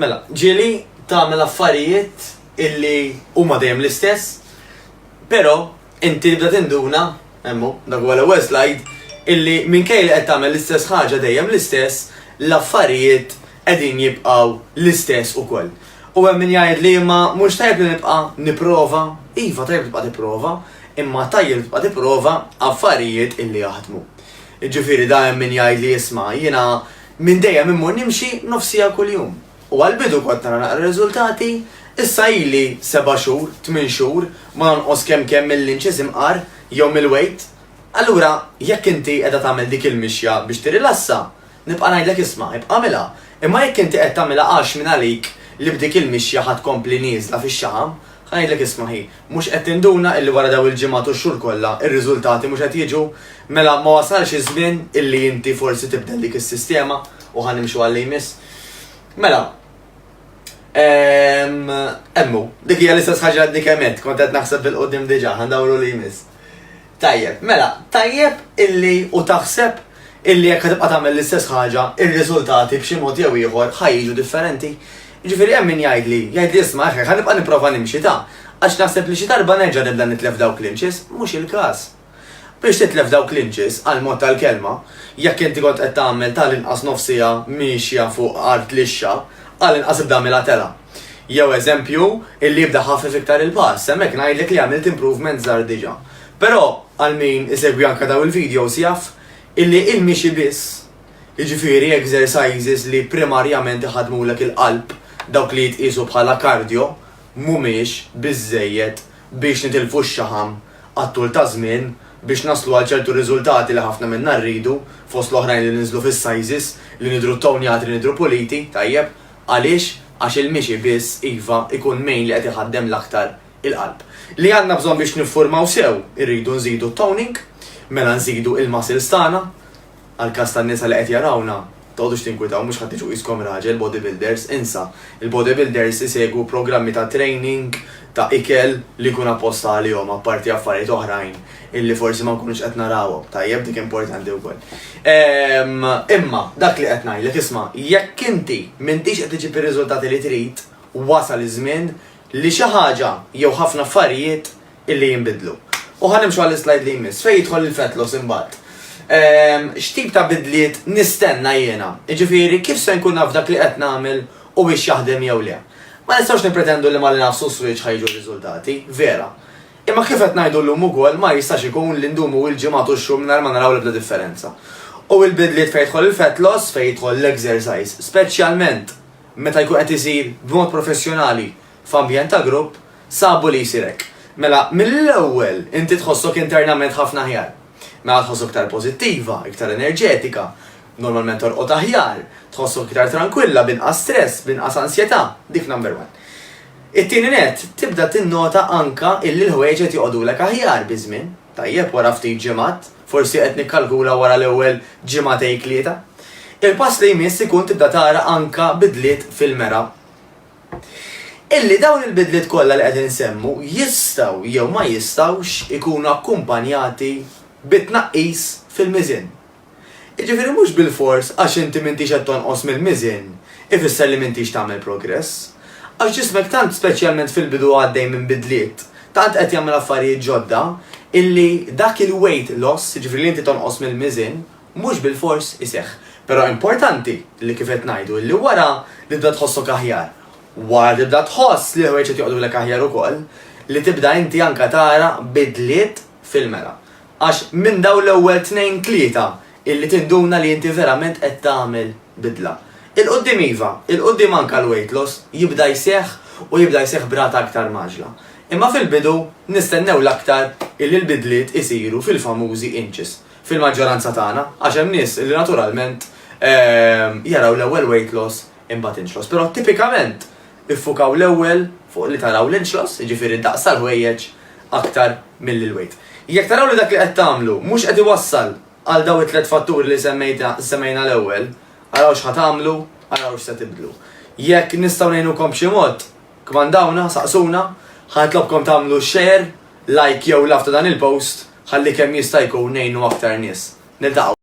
Mela, ġieli tagħmel affarijiet illi huma dejjem l-istess, però inti tibda tinduna, hemmu, dak huwa l-ewwel slide, illi minkej li qed tagħmel l-istess ħaġa dejjem l-istess, l-affarijiet qegħdin jibqgħu l-istess ukoll. U hemm min jgħid li imma mhux tajjeb li nibqa' nipprova, iva tajjeb tibqa' tipprova, imma tajjeb tibqa' tipprova affarijiet illi jaħdmu. Ġifieri da hemm min jgħid li isma' jiena Minn dejjem immur nimxi nofs siegħa kuljum. U għall-bidu kont nara naqra riżultati, issa ili seba' xhur, tmien xhur, ma nonqos kemm kemm mill-inches imqar jew mill-wejt. Allura, jekk inti qiegħda tagħmel dik il-mixja biex tirrilassa, nibqa' ngħidlek isma', ibqa' għamilha. Imma jekk inti qed tagħmilha għax mingħalik li b'dik il-mixja ħa tkompli nieżla fix-xaħam, Ħa ngħidlek isma' hi, mhux qed tinduna illi wara dawn il-ġimgħat u x-xhur kollha, ir-riżultati mhux qed jiġu? Mela ma wasalx iż-żmien illi inti forsi tibdel dik is-sistema u ħa nimxu għal li jmiss? Mela, ehm, hemm hu. Dik hija l-istess ħaġa li għadni kemm għedt, kont qed naħseb 'il quddiem diġà, ħa ndawru li jmiss. Tajjeb, mela, tajjeb illi u taħseb illi jekk ħa tibqa' tagħmel l-istess ħaġa, ir-riżultati b'xi mod jew ieħor ħa jiġu differenti. Jiġifieri hemm min jgħidli, jgħidli isma' eħe ħa nibqa' nipprova nimxi ta', għax naħseb li xi darba nerġa' nibda nitlef dawk l-inches, mhux il-każ. Biex titlef dawk l-inches, għall-mod tal-kelma, jekk inti kont qed tagħmel ta' l-inqas nofs siegħa miexja fuq art lixxa, għall-inqas ibda għamilha telgħa. Jew eżempju, illi jibda jħaffef iktar il-pass, hemmhekk ngħidlek li għamilt improvement żgħar diġa. Però għal min isegwi anke dawn il-videos jaf illi il-mixi biss, jiġifieri exercises li primarjament iħaddmulek il-qalb, dawk li jitqiesu bħala cardio, mhumiex biżżejjed biex nitilfu x-xaħam għat-tul ta' żmien biex naslu għal ċertu riżultati li ħafna minna rridu, fost l-oħrajn li ninżlu fis-sizes, li nidhru ttonjati, li nidhru puliti, tajjeb. Għaliex? Għax il-mixi biss, iva, ikun mgħin li qed iħaddem l-aktar il-qalb. Li għandna bżonn biex niffurmaw sew, irridu nżidu t-toning, mela nżidu il-muscles tagħna. Għall-każ tan-nisa li qed jarawna, tqogħdux tinkwitaw mhux ħadd tiġu qiskom raġel bodybuilders, insa. Il-bodybuilders isegwu programmi ta' training, ta' ikel li jkun apposta għalihom, apparti affarijiet oħrajn illi forsi ma nkunux qed narawhom. Tajjeb dik importanti wkoll. Ehm, imma dak li qed ngħidlek isma' jekk inti m'intix qed iġib ir-riżultati li trid, wasal iż-żmien li xi ħaġa jew ħafna affarijiet illi jinbidlu. U ħa nimxu għall-islajd li jmiss fejn jidħol il-fat loss imbagħad. Ehm, x'tip ta' bidliet nistenna jiena? Jiġifieri kif se nkun naf dak li qed nagħmel u biex jaħdem jew le? Ma nistgħux nippretendu li malli nagħfsu s-switch ħajġu r-riżultati, vera. Imma kif qed ngħidu llum ukoll, ma jistax ikun li ndumu il-ġimgħat u x-xhur mingħajr ma naraw l-ebda differenza. U l-bidliet fejn jidħol il-fat loss, fejn jidħol l-exercise, speċjalment meta jkun qed isir b'mod professjonali f'ambjent ta' grupp, sabu li jsir hekk. Mela, mill-ewwel inti tħossok internament ħafna aħjar. Mela tħossok iktar pożittiva, iktar enerġetika. Normalment torqod aħjar, tħossok iktar trankwilla, b'inqas stress, b'inqas ansjetà, dik number one. It-tieni nett, tibda tinnota anka illi l-ħwejjeġ qed joqogħdulek aħjar biż-żmien. Tajjeb, wara ftit ġimgħat, forsi qed nikkalkula wara l-ewwel ġimgħatej tlieta. Il-pass li jmiss ikun tibda tara anka bidliet fil-mera. Illi dawn il-bidliet kollha li qed insemmu jistgħu jew ma jistgħux ikunu akkumpanjati bi tnaqqis fil-miżien. Jiġifieri mhux bilfors għax inti m'intix qed tonqos mill-miżien ifisser li m'intix tagħmel progress. Għax ġismek tant speċjalment fil-bidu għaddej minn bidliet, tant qed jagħmel affarijiet ġodda illi dak il-weight loss, jiġifieri li inti tonqos mill-miżien, mhux bilfors iseħħ. Però importanti li kif qed ngħidu illi wara li tibda tħossok aħjar, wara tibda tħoss li l-ħwejjeġ qed joqgħdulek aħjar ukoll, li tibda inti anke tara bidliet fil-mela. Għax minn dawn l-ewwel tnejn tlieta illi tinduna li inti verament qed tagħmel bidla. Il-quddiem iva, il-quddiem anke l-weight loss jibda jseħħ u jibda jseħħ b'rata aktar mgħaġġla. Imma fil-bidu nistennew l-aktar illi l-bidliet isiru fil-famużi inches, fil-maġġoranza tagħna, għax hemm nies illi naturalment jaraw l-ewwel weight loss imbagħad inch loss. Però tipikament, iffukaw l-ewwel fuq li taraw l-inċlos, jiġifieri d-daqs tal-ħwejjeġ aktar milli l-weight. Jekk taraw li dak li qed tagħmlu mhux qed iwassal għal dawn it-tliet fatturi li semmejna l-ewwel, araw x'ħa tagħmlu, araw x'se tibdlu. Jekk nistgħu ngħinukom b'xi mod, kmandawna, saqsuna, ħa nitlobkom tagħmlu share, like jew love ta' dan il-post ħalli kemm jista' jkun ngħinu aktar nies. Niltaqgħu.